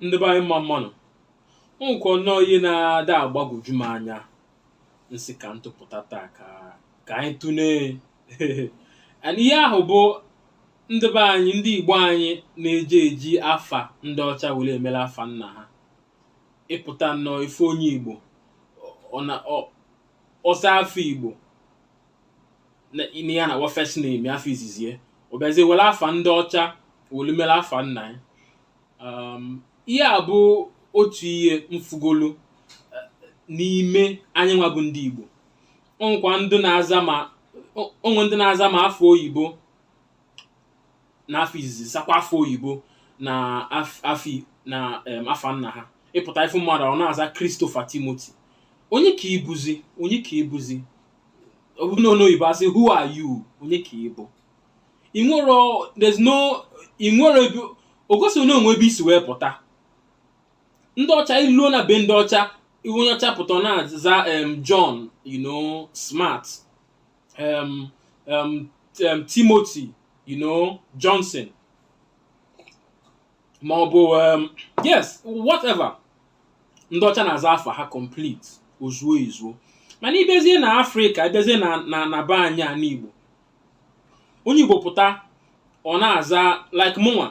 ndị be anyị mma mmanụ o nwekwa nnọọ ihe na-ada agbagwoju m anya m sị ka m tụpụta taa ka ka anyị tụlee and ihe ahụ bụ ndị be anyị ndị igbo anyị na-eji eji afa ndị ọcha were emere afa nna ha ịpụta nnọọ ịfụ onye igbo ọ na ọ za afa igbo na ya na wa first name afa izizi ya ọ bịazie were afa ndị ọcha were mere afa nna ya um, ihe a bụ otu ihe m fụgolu eh, n'ime anyị nwa bụ ndị Igbo onwekwa ndị na-aza ma o- onwe ndị na-aza ma afa oyibo na afa izizi zakwa afa oyibo na af- afi na em, afa nna ha ịpụta ịfụ mmadụ ọ na-aza Christopher Timothy onye ka ị bụzi onye ka ị bụzi ọ bụ n'oyibo asị who are you onye ka ị bụ enwerọ there's no enwerọ ebe o gosiri na o nwe ebe i si wee pụta ndị ọcha iluo na be ndị ọcha iwe onye ọcha pụta ọ na-aza em John you know smart em em em Timothy you know Johnson ma ọ bụ um, yes whatever ndị ọcha na-aza afa ha complete ozuo ezuo mana ịbịazie na afrịka ịbịazie na na na be anyị a n'igbo onye igbo pụta ọ na-aza like mụnwa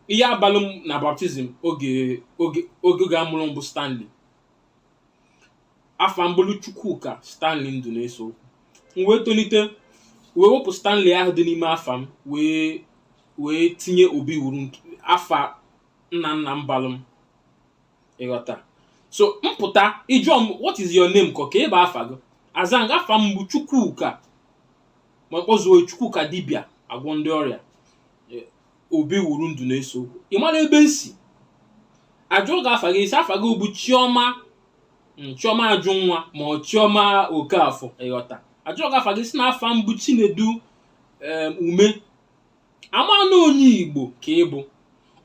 ihe a balụ m na baptizim oge oge oge oge amụrụ m bụ stanley afa m bụlụ Chukwuka Stanley Ndụneseokwu m wee tolite wee wepụ Stanley ahụ dị n'ime afa m wee wee tinye Obiwuru afa nna nna m balụ m ịghọta so m pụta ị jụọ m what is your name kọ kee bụ afa gị aza m gị afa m bụ Chukwuka ma kpọzuo Chukwukadibịa agwọ ndị ọrịa Obiwuru Ndụneseokwu ị mara ebe m si ajụọ gị afa gị ị sị afa gị bụ chioma mm, chioma ajụnwa ma ọ chioma okafọ ịghọta ajụọ gị afa gị ị sị na afa m bụ chinedu em, ume a ma na onye igbo ka ị bụ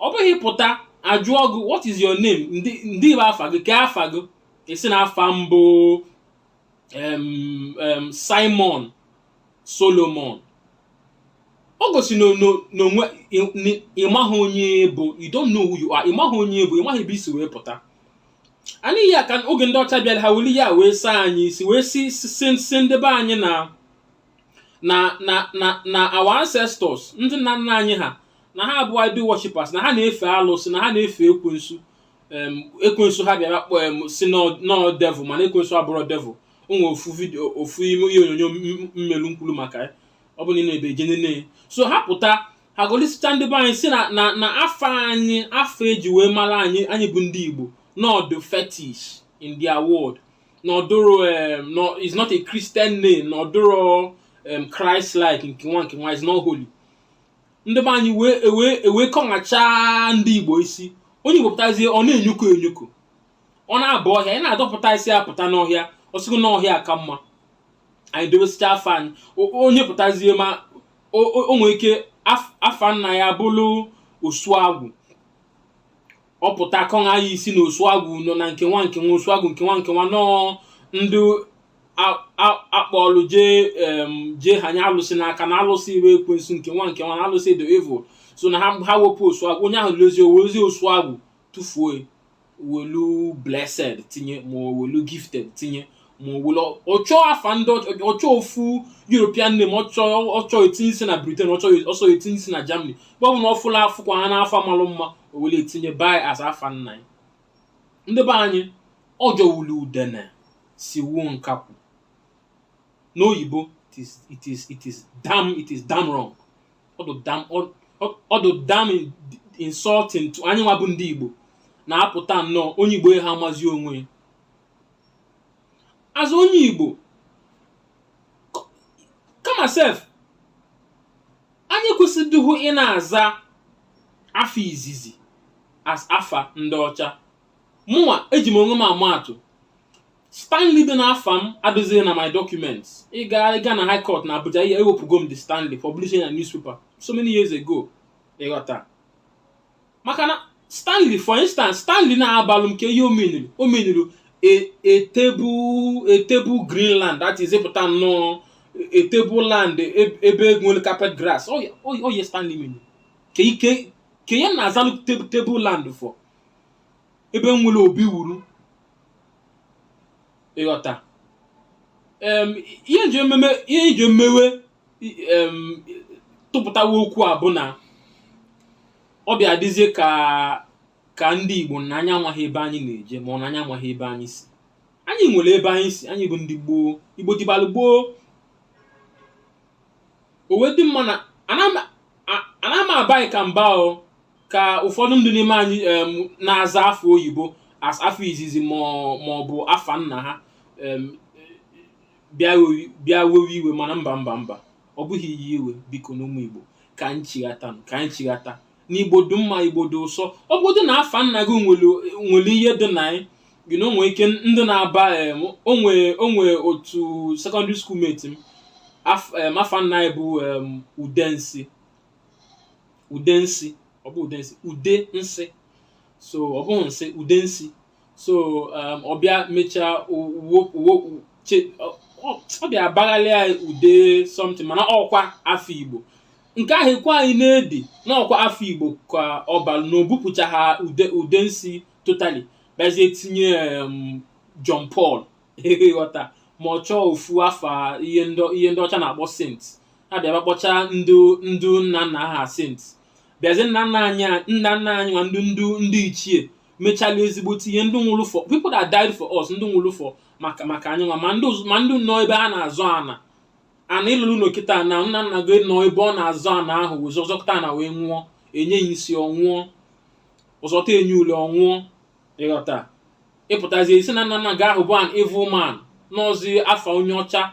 ọ bụghị ị pụta ajụọ gị what is your name ndị ndị bụ afa gị kee afa gị ị sị na afa m bụ Simon Solomon o gosi n'onwe ịmaghị onye ị bụ you don't know who you are ịmaghị onye ị bụ ịmaghị ebe i si wee pụta ọ nya ka oge ndị ọcha bịara ha weli ya wee saa anyị isi wee sị sị ndị be anyị na na na na na our ancestors ndị nna nna anyị ha na ha bụ idol worshippers na ha na-efe alụsị na ha na-efe ekwensu em, ekwensu ha bịara kpọ em, sị n'ọ n'ọ devil mana ekwensu abụrọ devil o nwere ofu vidio ofu ime ihe onyonyo m- m- m melu m kwulu maka ya ọ bụ na i nwee efe jee nene so ha pụta ha golisicha ndị be anyị si na na na afa anyị afa eji wee mara anyị anyị bụ ndị igbo n'ọ dụ fetish in their word n'ọ dụrọ em, nọ- is not a christian name n'ọ dụrọ em, christ like nke nwa nke nwa is not holy ndị be anyị wee ewee ewee kọṅachaa ndị igbo isi onye igbo pụtazie ọ na-enyuku enyuku ọ na-aba ọhịa ị na-adọpụta ya sị ya pụta n'ọhịa ọ sị gị n'ọhịa ka mma anyị dowesịcha afa anyị O- onye pụtazie ma o o- o nwee ike af- afa nna ya bụrụ osuagwụ ọ pụta kọṅa ya isi na osuagwụ nọ na nke nwa nke nwa osuagwụ nke nwa nke nwa na ọ ndị akpọlụ jee jee hanye alụsị n'aka na alụsị iwe ekwensu nke nwa nke nwa na alụsị dị evil so na ha ha wepụ osu agwụ onye ahụ lozi owezie osu agwụ tụfuo welu blessed tinye ma welu gifted tinye ma welu ọ chọọ afa ndị ọ chọọ ofu european name ọ chọ ọ chọ etinye isi na britain ọ chọ ọ sọ ya tinye isi na germany ebe ọbụna ọ fụla afụkwa ha n'afa malụ mma o wele ya tinye ebe a as afa nna ya ndị be anyị ọ jọwulu udene siwuo nkakwụ n'oyibo it is it is it is damn it is damn wrong ọ dị damn ọ- ọ- ọ dị damn in- insulting to anyị nwa bụ ndị igbo na a pụta nnọọ onye igbo ya ha amazi onwe ya as onye igbo kama sef anyị kwesịdịghị ị na-aza afa izizi as afa ndị ọcha mụnwa eji m onwe m ama atụ stanley dị n'afa m adịzighị na my documents ịga ịga na high court na abuja ihe ewepụgo m the stanley publish ya na newspaper so many years ago ịghọta maka na stanley for instance stanley na-abalụ m kee ihe ọ meaniri ọ meaniri a table a table greenland that is ịpụta nnọọ a table land eb- ebe nwere carpet grass ọ ya ọ ya- ọ ya stanley mean kee ihe kee ihe na-azalụ table table land for ebe m nwere obiwuru ịghọta em ihe m ji ememe ihe m ji emewe tụpụtawa okwu a bụ na ọ bịa dịzie ka ka ndị Igbo na anyị amaghị ebe anyị na-eje ma ọ na anyị amaghị ebe anyị si anyị nwere ebe anyị si anyị bụ ndị gboo Igbo dịbalụ gboo o wee dị mma na ana m abaghị ka mba o ka ụfọdụ ndị n'ime anyị na-aza afa oyibo as afa izizi ma ọ bụ afa nna ha bịa wewe- bịa wewe iwe mana mba mba mba ọ bụghị ihe iwe bikonụ ụmụ igbo ka anyị chighata ka anyị chighata na igbo dị mma igbo dị ụsọ ọ bụgodị na afa nna gị nwere nwere ihe dị na ya gị na onwe ike ndị na-aba em, o nwe o nwe otu secondary school mate m af- em, afa nna ya bụ em, udensi udensi ọ bụ udensi ude nsị so ọ bụghị nsị udensi so um, ọ bịa mechaa ọ bịa baghalịa ude something mana ọ kwa afa igbo nke ahụ ekwe anyị na-edi na ọ kwa afa igbo ka ọ balụ na o bupụcha ha ude ude nsi totally bịazie tinye um, John Paul ị ghọta ma ọ chọọ ofu afa ihe ndị ihe ndị ọcha na-akpọ saint ha bịa kpọcha ndị ndị nna nna ha saint bịazie nna nna anyị nna nna anyị nwa ndị ndị ndị ichie mechala ezigbote ihe ndị nwụrụ for people that died for us ndị nwụrụ for maka maka anyị nwa ma ndị ụz- ma ndị nọ ebe a na-azọ ana ana ị lụrụ ụlọ kịta na nna nna gị nọ ebe ọ na-azọ ana ahụ wee zọ zọkata ana wee nwụọ e nye ya isi ọ nwụọ ọ zọta e nye ule ọ nwụọ ị ghọta ị pụtazie ị sị na nna nna gị ahụ bụ an evil man na ọzi afa onye ọcha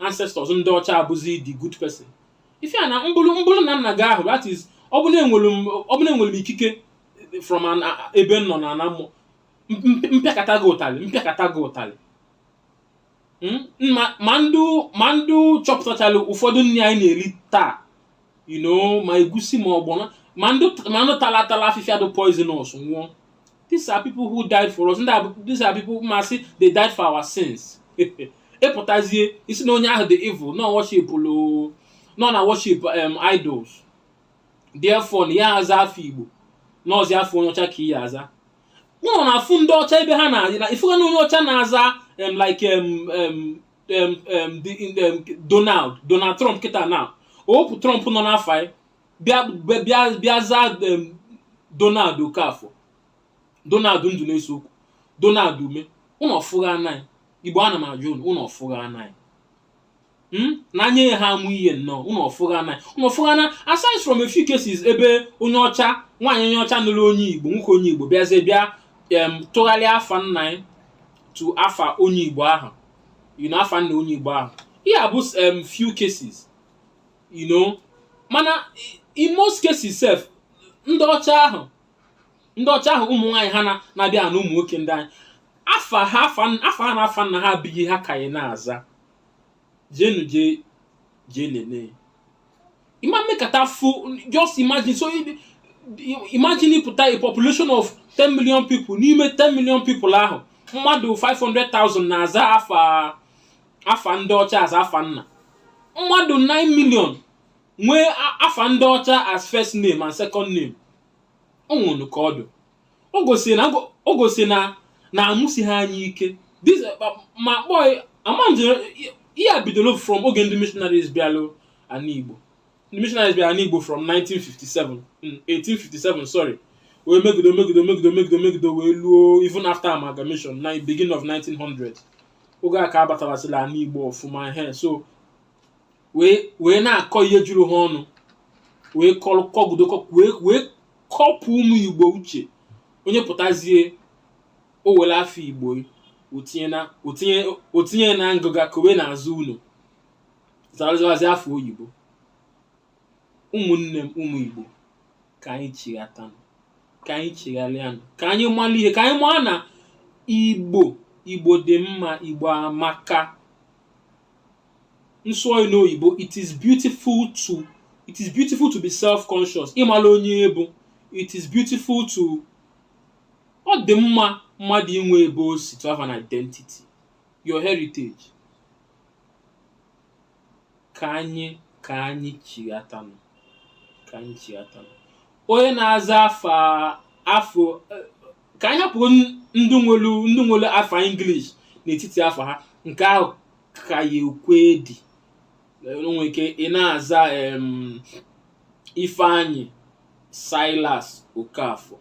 ancestors ndị ọcha abụzi the good person ife a na m bụrụ m bụrụ nna nna gị ahụ that is ọ bụ na enwere m ọ bụ na enwere m ikike from an a- ebe m nọ na ana mmụọ M- m- m pịakata gị ụtalị m pịakata gị ụtalị Mm, ma ma ndị ma ndị chọpụtachara ụfọdụ nri anyị na-eri taa you know ma egusi ma ọgbọnọ ma ndị ma ndị tara atara afịfịa dị poisonous nwụọ these are people who died for us ndị a bụ- these are people masị they died for our sins ị pụtazie ị sị na onye ahụ dị evil na worship lụ na ọ na worship um, idols therefore na ị ya aza afa igbo na ọzi afa onye ọcha ka ị ya aza ụnụ na-afụ ndị ọcha ebe ha na-adị na ị fụgo na onye ọcha na-aza em like em em em em the- in the- em, Donald Donald Trump kịta na o wepụ Trump nọ n'afa ya bịa bịa- bịa bịa zaa em, Donald Okafọ Donald ndụ na-eso okwu Donald ume ụnụ ọ fụgha na anyị igbo ana m ajụ ụnụ ụnụ ọ fụgha na anyị Hmm? na anyị ya ha amụ ihe nnọọ ụnụ ọ fụgha na ụnụ ọ fụgha na aside from a few cases ebe onye ọcha nwaanyị onye ọcha nụrụ onye igbo nwoke onye igbo bịazie bịa em tụgharịa afa nna ya to afa onye igbo ahụ you know afa nna onye igbo ahụ ihe a bụ em few cases you know mana i- in most cases sef ndị ọcha ahụ ndị ọcha ahụ ụmụ nwaanyị ha na- na-abịa anụ ụmụ nwoke ndị anyị afa ha afa afa ha na afa nna ha bụ ihe ha ka ya na-aza jenu je je nene ị ma mekata fụ just imagine so i- i- imagine ịpụta a population of 10 million people n'ime 10 million people ahụ mmadụ 500,000 na-aza afa afa ndị ọcha as afa nna mmadụ 9 million nwee a- afa ndị ọcha as first name and second name o nwere ka ọ dụ o gosiri na o gosiri na na amụsi ha anyị ike This, uh, ma kpọọ ya- ama m jere ihe a bidoro from oge ndị missionaries bịalụ ana igbo ndị missionaries bịara ana igbo from 1957 mm, 1857 sorry wee megide megide megide megide megide wee luo even after amalgamation na beginning of 1900 oge a ka a batabasịla ana igbo ọfụma he so wee wee na-akọ ihe juru ha ọnụ wee kọrọ kọgido kọ wee wee kọpụ ụmụ igbo uche onye pụtazie o were afa igbo o tinye na o tinye o tinye na ngụga kowe n'azụ ụnọ zara zawazi afa oyibo ụmụnne m ụmụ igbo ka anyị chighatanụ ka anyị chigharịanụ ka anyị mara ihe ka anyị maa na igbo igbo dị mma igbo amaka m sụọ ya n'oyibo it is beautiful to it is beautiful to be self-conscious ịmala onye ị bụ it is beautiful to ọ dị mma mmadụ inwe ebe o si to have an identity your heritage ka anyị ka anyị chighatanụ ka anyị chighatanụ onye na-aza afa afa eh, ka anyị hapụ ndị nwere ndị nwere afa English n'etiti afa ha nke ahụ ka ya ekwe edi i nwere ike ị na-aza em, ifeanyị silas okafọ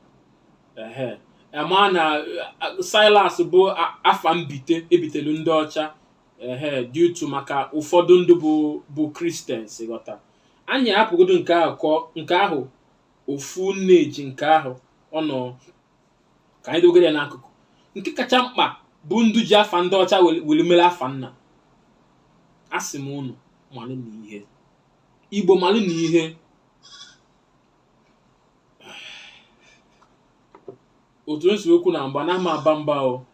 ehe a ma na eh, silas bụ a- afa mbite e bitelu ndị ọcha ehe due to maka ụfọdụ ndị bụ bụ Christians ị ghọta anyị hapụgodo nke ahụ kọ nke ahụ ofu nne ji nke ahụ ọ nọ ka anyị dogere ya n'akụkụ nke kacha mkpa bụ ndị ji afa ndị ọcha were- were mere afa nna asị m unu malụ na ihe igbo malụ na ihe otu m si ekwu na mba na ama aba mba o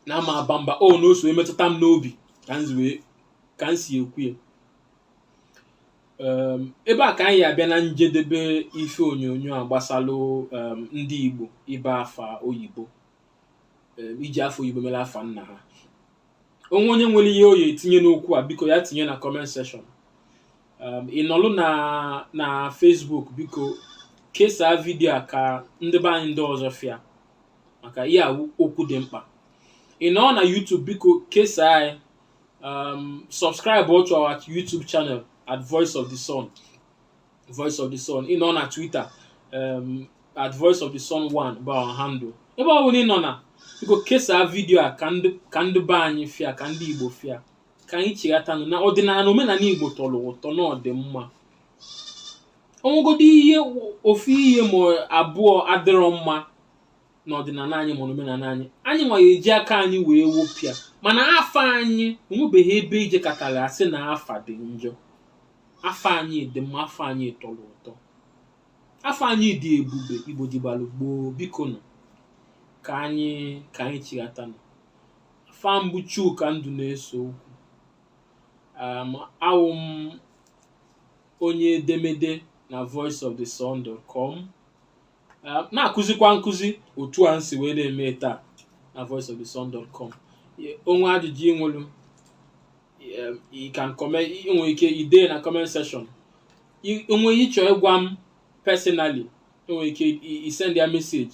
na ama aba mba o na o si emetụta m n'obi ka m si wee- ka m si ekwu ya um ebe a ka anyị ya-abịa na njedebe ife onyonyo a gbasalụ um ndị Igbo ịba afa oyibo um iji afa oyibo mere afa nna ha o nwee onye nwere ihe ọ ya-etinye n'okwu a biko ya tinye na comment section um ị nọlụ na na Facebook biko kesaa vidio a ka ndị be anyị ndị ọzọ fụ ya maka ihe a okwu dị mkpa ị nọ na YouTube biko kesaa anyị um, subscribe to our YouTube channel at Voice of the Sun. Voice of the Sun. Ị nọ na Twitter um, at Voice of the Sun 1 bụ our handle. Ebe ọ bụla ị nọ na biko kesaa vidiyo a ka ndị ka ndị be anyị fụ ya ka ndị Igbo fụ ya ka anyị chighatanụ na ọdịnala omenala Igbo tọrọ ụtọ na ọ dị mma o nwegodo ihe ofu ihe ma abụọ adịrọ mma n'ọdịnala anyị ma n'omenala anyị anyị nwa ya-eji aka anyị wee wopụ ya mana afa anyị o nwebeghị ebe i jekatara a sị na afa dị njọ afa anyị dị mma afa anyị tọrọ ụtọ afa anyị dị ebube Igbo dịbalụ gboo bikonụ ka anyị ka anyị chighatanụ afa m bụ Chuka Nduneseokwu um, awụ m onye edemede na voice of the sun.com eh, na-akụzikwa nkuzi otu a m si wee na-eme taa na voice of the sun.com o nwee ajụjụ i nwelụ eh, you can comment i nwere ike ide na comment section I- o nwee ihe ị chọ ịgwa m personally i nwere ike i- i send ya message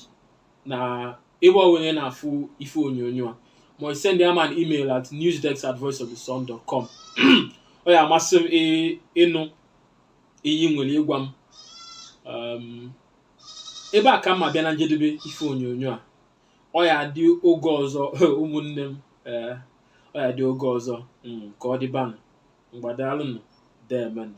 na ebe ọbụla ị na-afụ ife onyonyo a ma i send ya m an email at newsdesk at voiceofthesun.com ọ ya-amasị m ị- ịnụ ihe i nwere ịgwa m um, ebe a ka m ya-abịa na njedebe ife onyonyo a ọ ya-adị oge ọzọ ụmụnne m ee ọ ya-adị oge ọzọ mm, ka ọ dịbanụ ngwa daalụnụ deemenụ